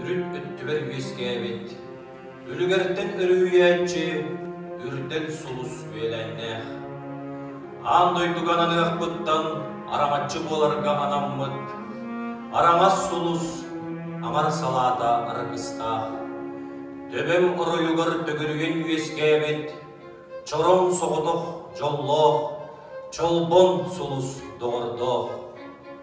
Үрүт өттүбэр үөскээбит, үлүгэртэн өрүһүйээччи, үрдэл сулус үөлээннээх. Аан дойдуга ананыахпыттан араҥаччы буоларга анаммыт, араҥас сулус, аҥар салаата аракыстаах. Төбөм оройугар төгүрүгүн үөскээбит, чороҥ соҕотох дьоллоох, чолбон сулус доҕордоох.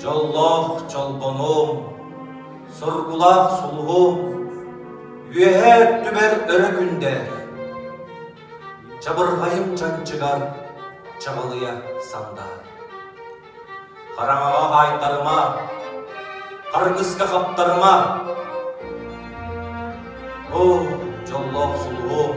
Дьоллоох чолбонуом, соргулаах сулуһуом, үөһээ өттүбэр өрө күндээр, чабырҕайым чанчыгар чаҕылыйа сандаар. Хараҥаҕа хаайтарыма, харгыска хаптарыма. О, дьоллоох сулуһуом,